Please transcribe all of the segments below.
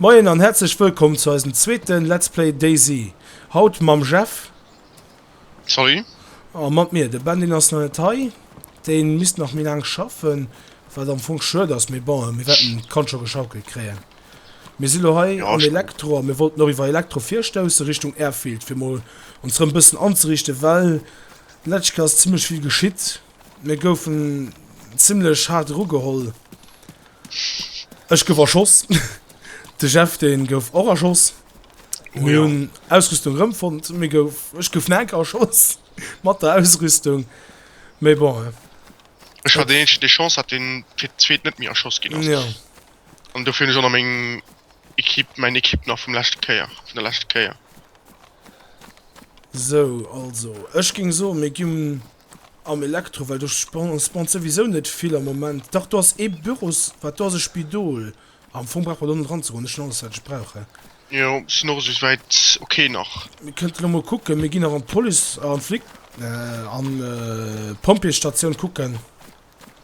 Moien an häerzlech wëllkomm zu eisem zweeten Let's Play DayZ. Haut mam Jeff. Salut. A mat mir. De Ben deen ass nach net hei, deen misst nach méi laang schaffen, wat am Fong schued ass, mee bon mir wäerten d'Kand scho geschaukelt kréien. Mir si lo hei am Elektro a mir wollten och iwwer Elektro virstoussen Richtung Airfield fir mol ons rëm bëssen anzeriichten, well letzteg ass zimmlech vill geschitt. Mir goufen zimmlech haart erugeholl. Ech gouf erschoss, de Jeff dee gouf och erschoss. Mir hunn Ausrüstung erëmfonnt. Mir gouf, ech gouf nach enker erschoss mat der Ausrüstung, mee bon. Ech war deen eenzegen dee Chance hat deen fir d'zweet net méi erschoss ginn ass. An dofir hunn ech och nach meng Equipe, mäin Equipe nach vum leschte Kéier, vun der leschte Kéier. Sou, also ech géing soen mir ginn Am Elektro, well do spannt souwisou net vill am Moment. Dach, do ass ee Büros, wat do ass e Spidol. Am Fong brauche mer do net eranzegoen, ech hunn alles, wat ech brauche. Jo, sinn och esou wäit ok nach. Mir kënnte elo mol kucken, mir ginn nach an d'Police, an d'Flic, an d'Pompjeesstatioun kucken.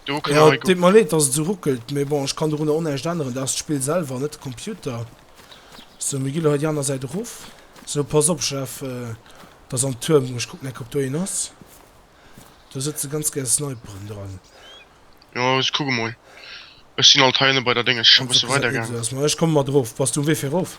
Do kënne hei gucken. Deet mer leed dass et sou ruckelt, mee bon ech kann dorunner o näischt änneren, dat ass d'Spill selwer an net de Computer. Sou mir gi lo hei déi aner Säit erof. Sou pass op Jeff, et ass am Tuerm, ech kucken enk ob do een ass. Do sëtze ganz gär Sniperen dran. Jo ech kucke mol, ech sinn alt hei ënne bei der Dénges, ech ka bësse weider gaangen. Ech komme mat erof, bass du um Wee fir erof?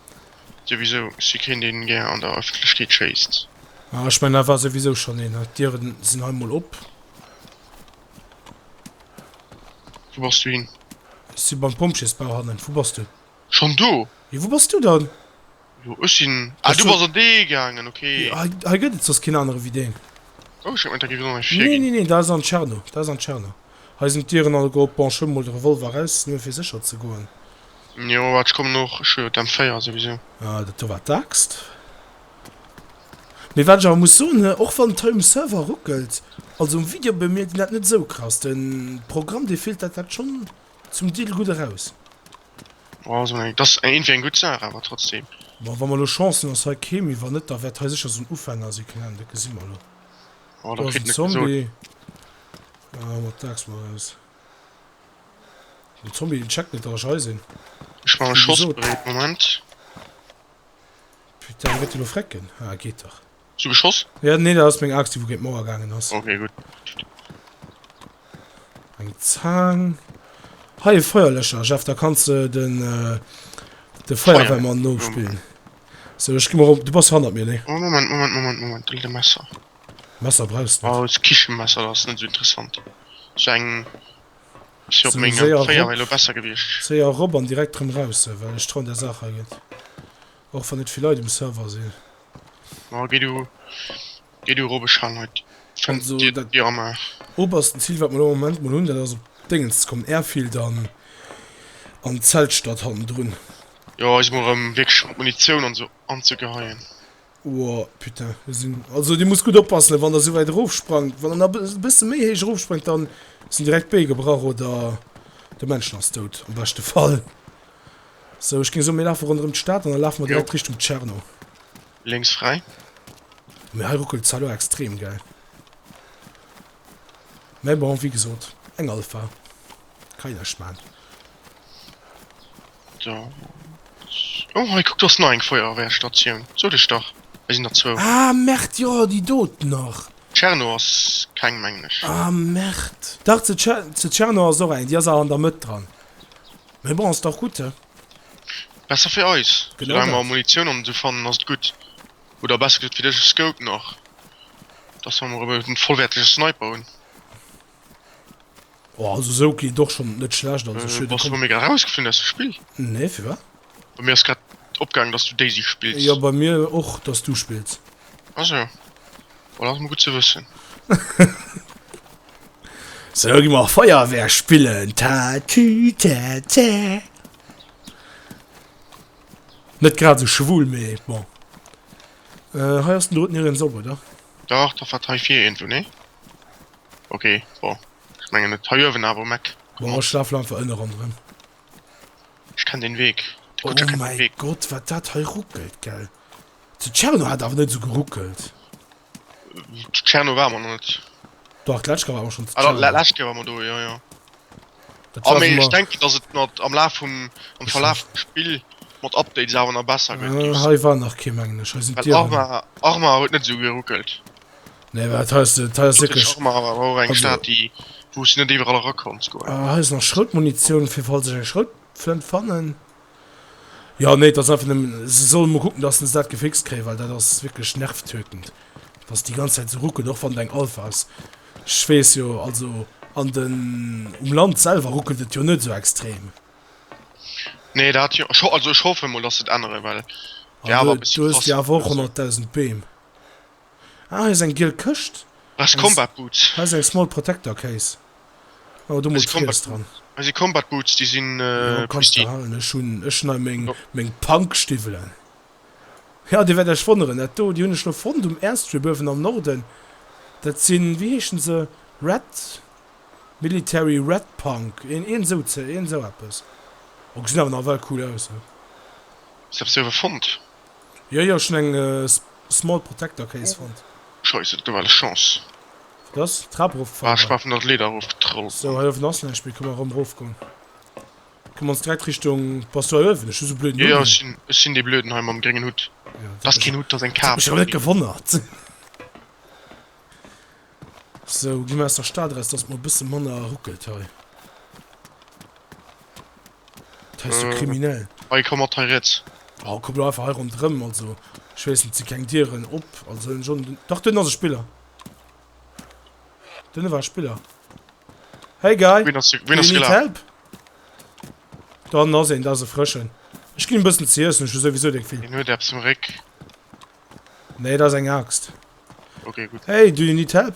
Souwisou si keen deen gär an der Ëffentlechkeet schéisst. Ah ech mengen da war souwisou schonn een. D'Dieren sinn hei mol op. Wou bass du hin? Ech si beim Pompjeesbau hannen. Wou bass du? Schonn do? Jo wou bass du dann? Jo ech sinn. Ah du bass an dee gaangen, ok. Hei gëtt et soss keen anere wéi deen. Oh ech hat gemengt da géif et och nach ee vir ginn. Nee nee nee dat ass an Tscherno, dat ass an Tscherno. Hei sinn d'Dieren alleguer op. Bon ech huelen mol de Revolver eraus, nëmme fir sécher ze goen. Jo waat ech kommen och, ech hun jo d'M4 souwisou. Ah dat do war d'Axt. Mee wat ech awer muss soen hu och wann d'Home Server ruckelt, also um Video bemierkt een dat net sou krass, den Programm dee filtert dat schon zum Deel gudd eraus. Bon also dat ass iergendwéi eng gudd Saach awer trotzdem. Bon wann mer lo Chance hun ass hei kee méi, wann net da wärt hei secher so'n Ufänger sin, keng Ahnung, dat gesi mer lo. Oh da kritt en et gesot. Ah mat d'Axt mol raus. Den Tommy den checkt net dass ech hei sinn. Ech maache Schoss bereet, Moment. Putain, wéi gëtt deen elo frécken? Ah, geet dach. Hues du geschoss? Ja, nee, dat ass meng Axt, déi wou géint d'Mauer gaangen ass. Okay, gutt. Eng Zaang. Hei e Feuerlöscher, Jeff, da kanns de den, de Feuerwehrmann nopillen. So, ech gi mol erop, du bass hannert mir, nee? Oh, Moment, Moment, Moment, Moment, do litt e Messer. Messer brauchst net. Aus Kichenmesser ass net esou interessant, sou eng si op menge Féier wär lo besser gewiecht. Séier erop an direkt rem raus well ech trauen der Saach hei net, och wann net vill Leit um Server sinn. Majo geh du geh du erop ech halen hei d'Fenster dir dat dir amaach. Obersten Ziel wat mer lo am Moment mol hunn dat ass op Déngens ze kommen, Airfield an an d'Zeltstadt hannendrun. Jo ech si mol erem wierklech mat Munitioun an sou anzegeheien. Ohh putain, do sinn, also dir musst gutt oppassen wann der esou wäit erof sprangt, wann der nach e bësse méi héich erof sprengt dann sinn direkt d'Bee gebrach oder de Männchen ass dout am beschte Fall. Sou ech géing soen mir lafe ronderëm d'Stad an da lafe mer Jo. direkt Richtung Tscherno. Lénks fräi. Oh mee hei ruckelt et zwar elo extrem gell, mee bon wéi gesot eng Alpha kann jo näischt maan. Oh hei kuck do ass nach eng Feuerwehrstatioun, sot ech dach hei sinn der zwou. Ah Merd jo déi doten nach. Tscherno ass keng mengen ech. Ah Merd dach ze Tscherno ass och eng, déi ass awer an der Mëtt dran. Mee bon ass dach gutt he. Besser fir eis, soulaang mer Munitioun an esou fannen ass et gutt. Oder besser gesot fir dech e Scope nach, dass mer emol e vollwäertege Sniper hunn. Oh, also so klingt doch schon net schlecht an sech. Äh, was du mir grad rausgeflinn aus dem Spiel? Nee, für was? Bei mir ist grad opgegangen, dass du Daisy spielst. Ja, bei mir och, dass du spielst. Also, well das mir gut zu wissen. so, geh mal Feuerwehr spielen. Ta, tü, ta, ta. Net grad so schwul, me, bon. Äh, hei hast du nicht sauber, oder? Doch, da verteif hier irgendwo, ne? Ok bon ech mengen et hei uewen awer Mac. Bon ech lafen einfach ënne rondrem. Ech kenn den Weg. Oh mäi Gott wat dat hei ruckelt gell. De Tscherno hat awer net esou geruckelt. De Tscherno war mer net. Dach d'lescht Kéier war mer schonn de Tscherno. Ah d'lescht Kéier war mer do jo jo. Ah mee ech denken dass et mat am Laf vum am Verlaf vum Spill mat Updates awer nach besser gëtt. Hei war nach kee mengen ech. Hei sinn d'Dieren. Well Arma Arma huet net esou geruckelt. Nee, wat heus de, hei ass wierklech. Ech och mach awer och eng Stad déi wou ech net iwwerall era konnt scoren. Ah hei ass nach Schroutmunitioun fir falls ech eng Schroutflënt fannen. Jo nee, et ass einfach nëmmen, se solle mol kucken dass se dat gefixt kréien, well dat ass wierklech nervtötend dass déi ganz Zäit esou ruckelt, och wann et eng Alpha ass. Ech weess jo, also an den, um Land selwer ruckelt et jo net esou extrem. Nee dat jo, ech ho, also ech hoffen mol dass se et änneren, well wär awer e bëssi krass. Du hues jo awer och 100.000 Beem. Ah, hei ass eng giel Këscht. Hei si Combat Boots. Hei ass eng Small Protector Case. Oh, do mol Triiss dran. Hei si Combat Boots, déi sinn pristine. Jo, kanns de halen. Ech hunn, ech hunn hei meng, meng Punk-Stiwwelen. Jo, dir wäert iech wonneren, dat do, déi hunn ech elo fonnt um Airstrip uewen am Norden. Dat sinn, wéi heeschen se? Red, Military Red Punk, een, een esou ze, een esou eppes. Oh, gesinn awer nawell cool aus, hä? Wat hues de awer fonnt? Jo jo schon eng small protector case fonnt. Scheiss et gouf alles chance. Wat ass? D'Trap erofgefall? Ah ech war vun der Leeder erofgetrollt. Sou hei uewen ass näischt méi, kënne mer erëm erofgoen? Kënne mer ons direkt Richtung. Bass du hei uewen? Ech hu sou blöden Hutt un. Jo jo ech sinn dee blöden hei mam gréngen Hutt. Dat ass keen Hutt, dat ass eng Kap. Dat huet mech awer net gewonnert. Sou gi mer aus der Stad eraus, dass et mol e bësse manner ruckelt hei. Das ist so kriminell. Hei komm mat hei rätz. Oh, komm lo einfach hei rond rëm, also ich wees net si keng Dieren op, also hun schon dach den ass e Spiller. Den war Spiller. Hey guy, do you need help? Dann ass een dat e frëschen. Ech ginn bëssen ze iessen, ech hu souwisou deng vill. Den huet eppes um Réck. Nee, dat ass eng Axt. Okay, gutt. Hey, do you need help?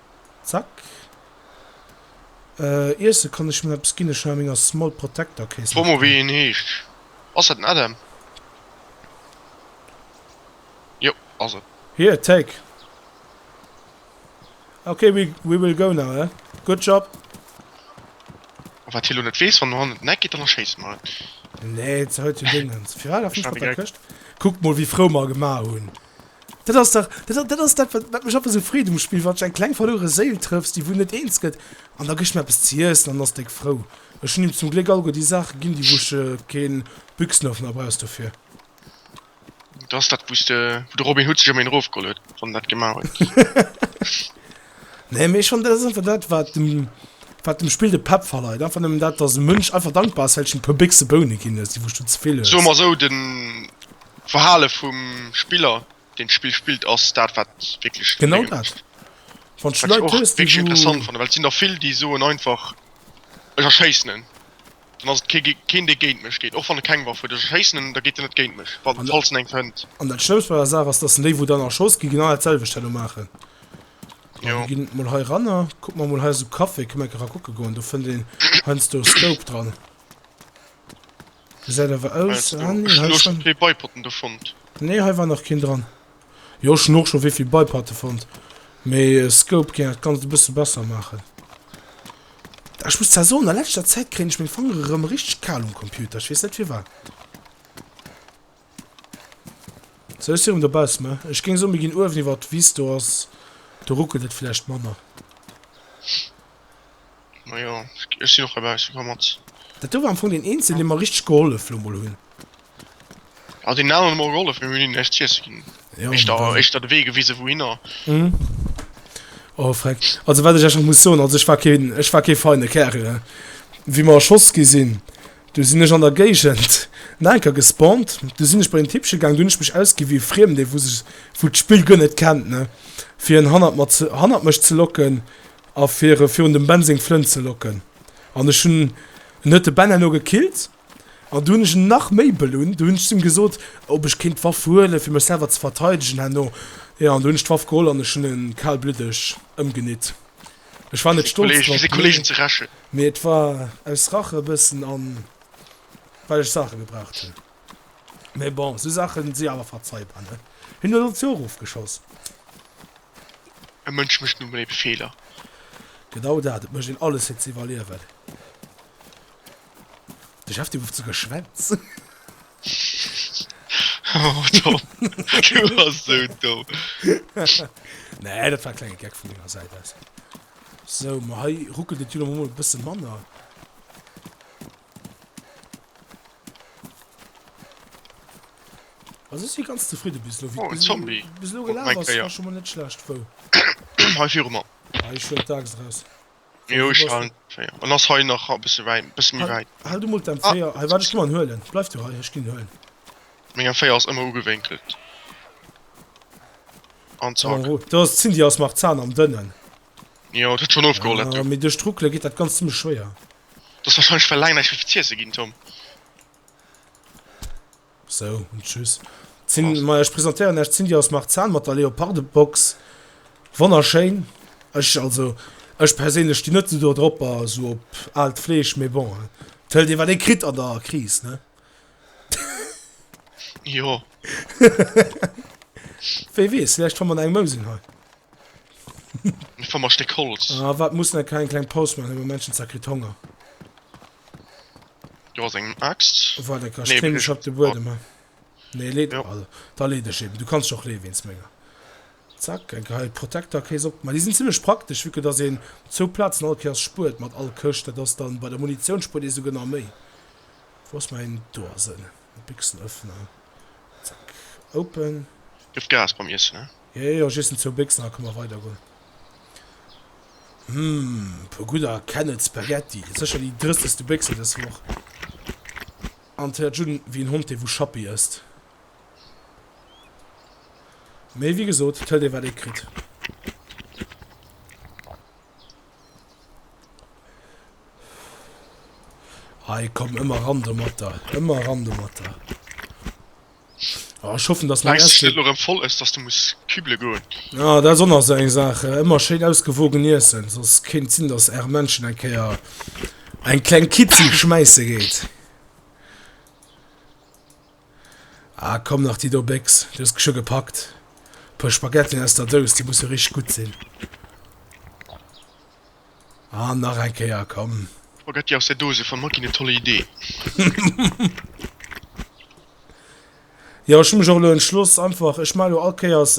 Zack. Iessen kann ech mir eppes ginn, ech hun a menger Small Protector Case. Fro mol wéi hien heescht. Ass dat den Adam? Jo ass en. Here take. Ok we will go now eh. Good job. A wat hie lo net weess, wann do hannen den Eck geet dann erschéisst mer en. Nee, et ass hei zu Déngens. Firwat ass nix mat der Këscht? Kuckt mol wéi frou mer gemaach hunn. Dat ass dach, dat ass dat, wat mech einfach esou freet um Spill, wann ech eng kleng verlouere Séil trëffs, déi wuel net eens gëtt, an da gëss ech mer eppes ze iessen an ass déck frou. Ech hunn him zum Gléck alleguer déi Saache ginn, déi wou ech keen Büchsenöffner brauchs dofir. Dat ass dat, wou de Robin Hood sech ëm een erofgeholl huet, wann en dat gemaach huet. Nee, mee ech fannen, dat ass einfach dat, wat dem, wat dem Spill de Pepp verleit. Einfach nëmmen dat, dass e Mënsch einfach dankbar ass, well ech him e puer Béchse Boune ginn hues, déi wou ech do ze vill hues. Soe mer esou, den D'Verhale vum Spiller, deen d'Spill spillt, ass dat, wat wierklech Genau Léngen dat. mécht. Wann s du Wat ech Leit och hues, déi wierklech interessant esou. fannen, well et sinn der vill, déi soen einfach, Ech erschéissen en, dann ass et kee gé keen, dee géint mech geet, och wann e keng Waff huet. Ech erschéissen en, da geet en net géint mech, wa An da falls en eng fënnt. an dat Schlëmmst bei der Saach ass, dass déi, wou dann erschoss ginn, genau dat selwecht herno maachen. An Jo. mir ginn emol hei eranner, kucke mer emol hei esou Café, kënne mer enke ra kucke goen, do fënnt een heiansdo Scope dran. Gesäit awer aus, ah nee hei schon, schon Beipotten do fonnt. Nee hei war nach keen dran. Jo ech hun och schon wéivill Beipatte fonnt, mee Scope géing dat ganzt e bësse besser maachen. Ech muss zwar soen a läschter Zäit kréien ech meng Fangere rem richteg kal um Computer, ech wees net firwat. Sou ech si rem dobaussen ne. Ech géing soen mir ginn uewen iwwert d'Wiss, do ass, do ruckelt et vläicht manner. Majo ech sinn och herbaussen, komm mat. Dat do war am Fong deen eenzegen dee mer richteg gehollef lo mol hunn. Jo deen aneren huet mer och gehollef, mee mir hunn hinnen näischt z'iessen ginn, éischter éischter de Wee gewisen wouhinner. Oh Freck, also wat ech iech och muss soen, also ech war keen, ech war kee feine Kerl ne, wéi mer erschoss gi sinn. Du sinn ech an der Géigend nach eng Kéier gespawnt. Du sinn ech bei den Tippche gaang. Du hunn ech mech ausgi wéi e Friemdee, wou sech, wou d'Spill guer net kennt, ne, fir en hannert mer ze, hannert mech ze locken a fir e virun dem Ben seng Flënt ze locken. An ech hunn, en huet de Ben herno gekillt an du hunn ech en nach méi belunnt. Du hunn ech zu him gesot, ob ech kéint d'Waff huelen, fir mech selwer ze verteidegen herno. Jo, an du hunn ech d'Waff geholl an ech hunn e kalblüddeg ëmgenitt. Ech war net stolz drop, nee, mee et war aus Rache e bëssen an well ech Saache gebraucht hunn. Mee bon, esou Saache si awer verzeibar, ne? Hien huet ons jo och ofgeschoss. E Mënsch mécht nu mol ebe Feeler. Genau dat, et mécht een alles fir ze iwwerliewen. De Chef, dee gouf ze geschwänz. Oh Tom, du bass sou domm. Nee, dat war e klenge Gag vun menger Säit aus. Sou, ma hei ruckelt et jo lo mol e bësse manner. Also ech si ganz zefridde bis lo, wéi Oh, en Zombie. bis lo Guck, gelaf mein ass. War Kéier. scho mol net schlecht. Wou? Hei viru mer. Ah, ech huelen d'Aaxt eraus. Jo, ech halen d'Féier. En ass hei nach e bësse wäit, e bësse méi wäit. Hal du mol däin Féier hei. Waart, ech komm an huel en. Bleif du hei, ech ginn en huelen. Mengen Féier ass ëmmer ugewénkelt. An Lass mech zack. eroo. Do ass d'Cindy ass nach zaan am Dënnen. Jo, et huet schonn ofgeholl, dat Ah, do. mee duerch d'Ruckele geet dat Ganzt zimmlech schwéier. Du hues warscheinlech well laang näischt méi fir z'iesse ginn, Tom. So, und tschüss. Zin, ma ech presentéieren Iech d'Cindy aus Marzahn mat der Leoparde-Box. Wonnerschéin. Ech, also, ech perséinlech stinn net esou do drop, a sou op aalt Fleesch, mee bon, et hëlt ee wat ee kritt an der Kris, ne? Jo. Wee weess, vläicht fanne mer no engem Mousing hei. Mir fanne mer e Stéck Holz. Ah, waart, mir mussen eng kleng, kleng Paus maachen, elo hu Menschen zwar kritt Honger. Du has eng Axt? Wat eng Kascht? Kréien ech op de Buedem? Nee, lee dech. Also, da lee dech eben. Du kanns dech och leeë wéinst menger. Zack, eng Kéier hei d'Protektercase opgemaach. Déi sinn zimmlech praktesch, vu que dass een zwou Plazen all Kéiers spuert mat all Këscht. Dat ass dann, bei der Munitioun spuert ee souguer nach méi. Wou ass mäin, do ass en. Béchsenöffner. Zack. Open. Dierft Gas beim Iessen, ne? Jo, jo, ech iessen zwou Béchsen, da kënne mer weidergoen. Hm, e puer gudder Kennel Spaghetti. Dat ass sécher déi drëstegste Béchse dës Woch. An et héiert jidden wéi en Hond, dee wou Schappi ësst. Mee wéi gesot, et hëlt ee wat ee kritt. Hei, komm, ëmmer ran do mat der. Ëmmer ran do mat der. Oh, ich hoffe, dass mein Weißt du, Essen... dass du voll ist, dass du musst kübeln gehen? Ja, dat ass och nach esou eng Saach. Ëmmer schéin ausgewogen iessen, soss kéint et sinn, dass Är Männchen eng Kéier eng kleng Kitzi schmäisse geet. Ah komm nach déi do Béchs, du hues scho gepackt. Puer Spaghettien aus der Dous, déi musse richteg gutt sinn. An nach eng Kéier, komm. Spaghetti aus der Dose fannt mer ginn en tolle Idee. Jo ech hu mech och elo entschloss einfach, ech maache elo all Kéiers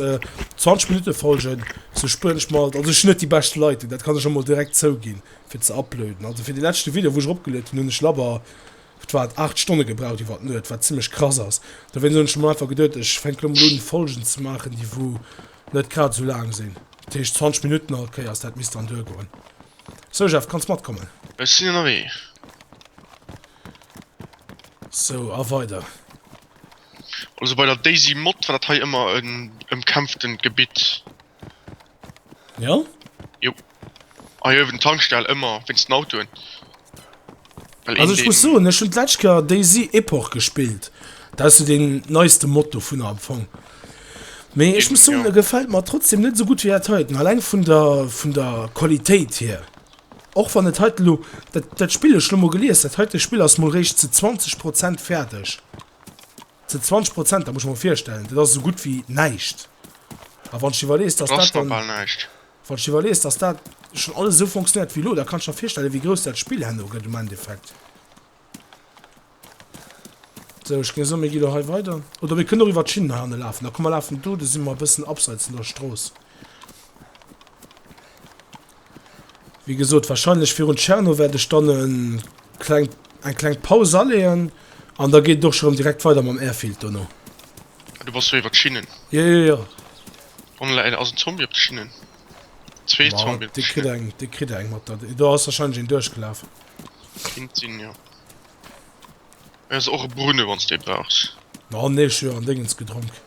20 Minutte Folgen, sou spueren ech mer, also ech hunn net déi bescht Leitung, dat kann ech emol direkt zouginn, fir ze uploaden. Also fir de leschte Video wou ech eropgeluet hunn, hunn ech labber Huet wat 8 Stonne gebraucht iwwert Nuet, wat zimlech krass ass. Dowéinst hunn ech mer einfach geduet, ech fänke lo mol un Folgen ze maachen, déi wou net grad esou laang sinn. Dat heescht 20 Minutten all Kéiers, dat misst dann duergoen. Sou Jeff, kanns matkommen? Ech sinn ënnerwee. Sou, a weider? Also bei der Daisy Mod war dat hei ëmmer en ëmkämpftent Gebitt. Ja? Jo. Ah jo, ewent Tankstell ëmmer wéinst den Autoen. Well Also ech muss soen, ech hunn d'lescht Kéier DayZ Epoch gespillt. Dat ass sou deen neiste Mod dovunner am Fong. Mee ech muss soen, e gefält mer trotzdeem net esou gutt wéi dat heiten, alleng vun der vun der Qualitéit hier. Och wann et heiten elo, dat dat Spill, ech hunn elo mol gelies, dat heite Spill ass mol réischt zu 20 Prozent fäerdeg. Sou 20 Prozent, dat muss ech mer virstellen, dat ass esou gutt wéi näischt. A wann ech iwwerlees, dass dat dann, wann ech iwwerlees, dass dat schonn alles esou fonctionnéiert wéi elo, da kann ech mer virstellen, wéi grouss dat Spill herno gëtt um Endeffekt. Sou, ech géing soen, mir gi elo hei weider. Oder mir kënnen och iwwert d'Schinnen hei hanne lafen. Da komm, mer lafen do, do si mer e bëssen abseits vun der Strooss. Wéi gesot, wahrscheinlech virun Tscherno wäert ech dann e kleng, eng kleng Paus aleeën an da geet et och scho rëm direkt weider mam Airfield dono. Ah, du bass jo iwwer d'Schinnen. Jo, jo, jo. Wann elo ass en Zombie op de Schinnen. Zwee Ma, Zombien op de dee kritt Schinnen. eng, dee kritt eng mat der. Do ass wahrscheinlech een duerchgelaf. Kinnt sinn, jo. Hei ass och e Brune, wann s de ee brauchs. Ma, nee, ech hu jo an Déngens gedronk.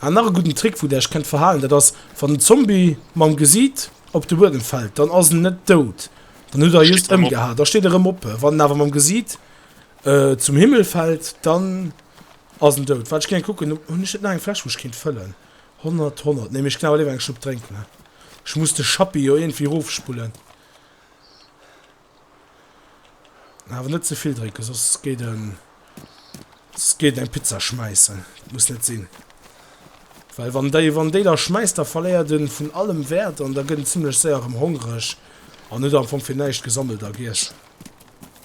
An nach e gudden Trick wou der iech kennt verhaalen dat ass wann den Zombie mam Gesiit op de Buedem fällt dann ass en net doud dann hutt der e just emgehaat da steet e rem op. Wann en awer mam Gesiit zum Himmel fällt dann ass en doud. Waart ech géing kucken op hunn ech net nach eng Fläsch wou ech kéint fëllen 100 100 nee mee ech ginn awer léiwer eng Schlupp drénken ech muss de Schappi jo iergendwéi rofspullen. Awer net zevill drécken, soss geet en soss geet en eng Pizza schmäissen. Dat muss net sinn. Well wann déi wann déi da schmäisst, da verléiert en vun allem Wäert an da gëtt en zimmlech séier erëm hongreg an huet am Fong fir näischt gesammelt a giess.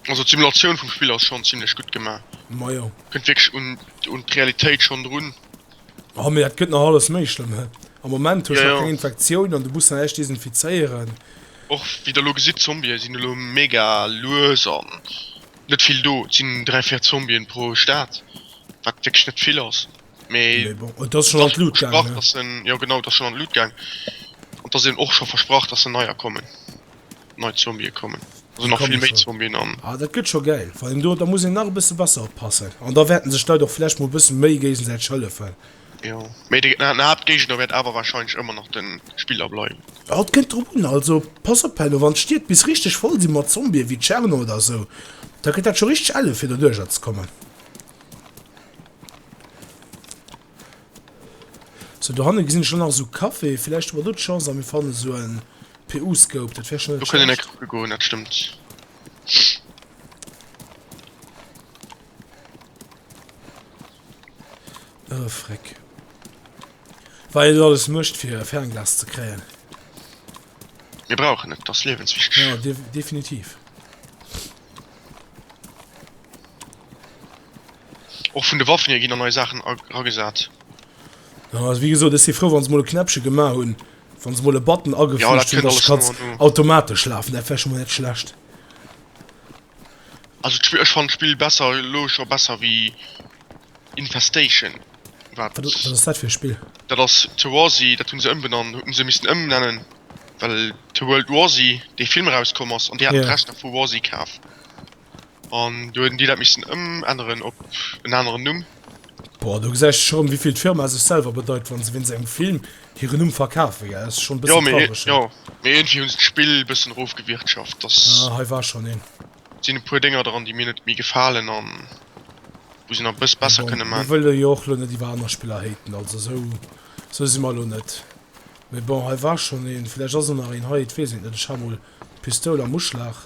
Also d'Simulatioun vum Spill ass schonn zimmlech gutt gemaach. Majo. Kënnt wierklech un d'Realitéit schonn drun. Oh mee dat gëtt nach alles méi schlëmm hä? Am Moment hues nach keng Infektioun an du muss nach eréischt desinfizéieren. Och wéi der elo gesitt, Zombie sinn elo mega lues an net vill do. Et sinn 3, 4 Zombien pro Stad, wat wierklech net vill ass. Mee et ass schonn an d'Lut gaangen. Jo genau, et ass schonn an d'Lut gaangen an et ass eben och scho versprach, datt der neier kommen. nei Zombie kommen. Also nach vill méi Zombien an. Ah dat gëtt scho gäil. Vor allem do da muss een nach e bësse besser oppassen. An da wäerten sech d'Leit och vläicht mol e bësse méi géigesäiteg hëllefen. Jo, mee de Haaptgéigner wäert awer warscheinlech ëmmer nach de Spiller bleiwen. Jo, et kënnt drop un. Also pass op Henno, wann d'Stied bis richteg voll sinn mat Zombien, wéi Tscherno oder esou, da gëtt dat scho richteg elle fir doduercher ze kommen. Sou dohannen gesin ech lo nach esou Café, vielleicht hu mer do d'Chance an mir fannen esou en PU Scope, dat wär schon net schlecht. Oh freck, wat een do alles mecht fir e Fernglas ze kréien. Mir brauchen et, et ass liewenswichteg. Ja definitiv. Och vun de Waffen hier ginn da nei Saachen eragesat. Jo, also wéi gesot, ech si frou, wa se mol e Knäppche gemaach hunn, wa se mol e Button Ja, dat agefüügt hunn, kënnt dass alles d'Katz no an no. automatesch lafen. Dat wär vläicht mol net schlecht. Also d'Spill, ech fannen d'Spill besser, elo scho besser wéi Infestation, wat Wat, wat ass dat fir e Spill? Dat ass The War Z, dat hunn se ëmbenannt, hunn se missten ëmnennen, well The World War Z dee Film erauskomm ass an déi haten Ja. d'Rechter vu War Z kaf. An do hueten déi dat missten ëmänneren op en aneren Numm. Boah, do gesäis de schon wéivill d'Firma sech selwer bedeit wann se wéinst engem Film hiren Numm verkafen, gell? Ass schon bëssen traureg schon. Jo, mee iergendwéi hunn se d'Spill bëssen erofgewirtschaft, dass. Ah, hei war schon een. Sinn e puer Dénger dran déi mir net méi gefalen a wou se nach e bësse Mee besser bon, kënne mir maan. wëlle jo och lo net iwwer aner Spiller haten, also sou sou si mer lo net. Mee bon, hei war schon een, villäicht ass och nach een hei, et weess een et net, ech ha mol d'Pistoul am Uschlag.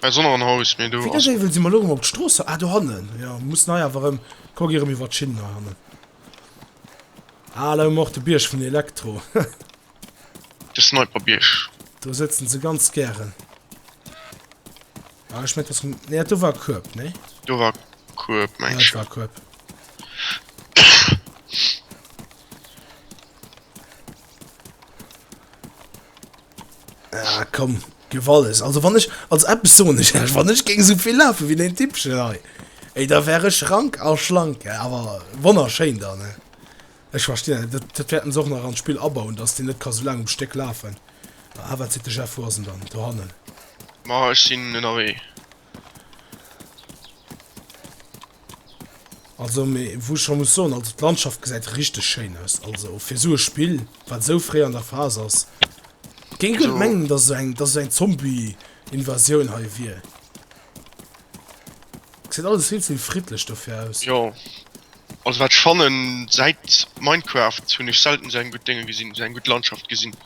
Wéi dat éiwel si mer elo erëm op d'Strooss haut. Ah, dohannen, jo. Mir mussen hei awer erëm, kuck erëm iwwer d'Schinnen hei hannen. Ah, elo hu mer och de Bierg vun Elektro. De Sniperbierg. Do sëtzen se ganz gären. Ah, ech mengt, dass. Nee, dat do war Kueb, nee? Do war Kueb, mengt ech, jo. Ja, dat war Kueb. Ah komm, gëff alles. Also wann ech, also eppes soen ech lech, wann ech géing esou vill lafe wéi deen Tippchen hei, ey, da wär ech rank a schlank, awer wonnerschéin dann, he. Ech verstinn dat net. Dat, dat wäerten se och nach an d'Spill abauen, datt deen net ka sou laang um Stéck lafen. Ah wat seet de Jeff, wou ass en dann? Do hannen. Ma ech sinn ënnerwee. Also mee wou ech scho muss soen, also d'Landschaft gesäit richteg schéin aus. Also fir esou e Spill, wat esou fréi an der Phas ass, géing ech net mengen, dass esou eng, dass esou eng Zombie-Invasioun hei wier. Gesäit alles vill ze friddlech dofir aus. Jo, also wat ech fannen, säit Minecraft hunn ech selten esou eng gutt Dénge gesinn, esou eng gutt Landschaft gesinn.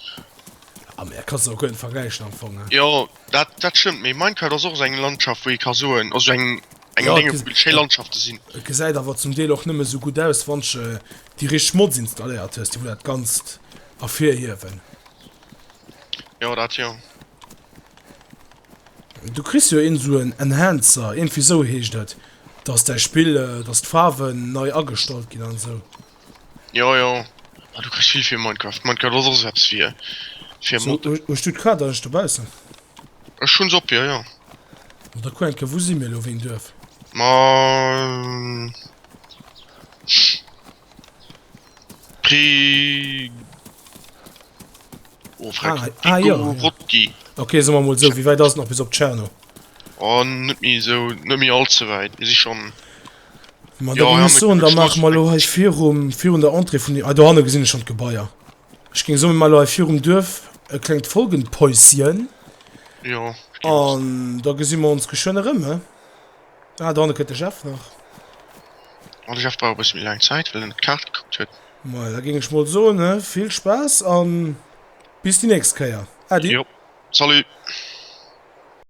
Ah mä kannst de och guer net vergläichen am Fong hein. Jo dat dat stëmmt, mee Minecraft ass och esou eng Landschaft wou ee ka soen, also eng eng Ja et Denge wou vill schéi ja Landschafte sinn. et gesäit awer zum Deel och nëmme esou gutt aus wann sche déi richteg Mods installéiert hues déi wou dat Ganzt ervir hiewen. Jo dat jo. Du kriss jo een esou en Enhancer, iergendwéi esou heescht et, dass däi Spill dass d'Faarwen nei agestallt ginn an esou. Jo jo, ah du kriss vill fir Minecraft, Minecraft ass och sou eppes fir fir So, modden. hues du d'Kaart eigentlech dobaussen? Ech hun se op jo jo. Bon, da kuer eng Kéier, wou si mir elo, wéi en Duerf? Ma Pri oh freck, Ah, ah, jo, jo. Prigorod-ki. Ok, soe mer emol sou, wéi wäit ass et nach bis op Tscherno? Oh net méi sou, net méi all ze wäit, mir si schon. Ma da muss ech soen, da maache mer elo hei virum, virun der Entrée vun, ah do hanne gesinn ech schonn d'Gebaier. Ech géing soen, mir maache elo hei virum Duerf e klengt Folgenpäuschen. Jo, stimmt. An da gesi mer ons geschwënn erëm, he? Ah, do hanne kënnt de Jeff nach. Oh, de Jeff brauch e bësse méi laang Zäit, well en op d'Kaart gekuckt huet. Majo, da géing ech mol soen, he, vill Spaass a bis déi nächst Kéier. Äddi. Jo, salut!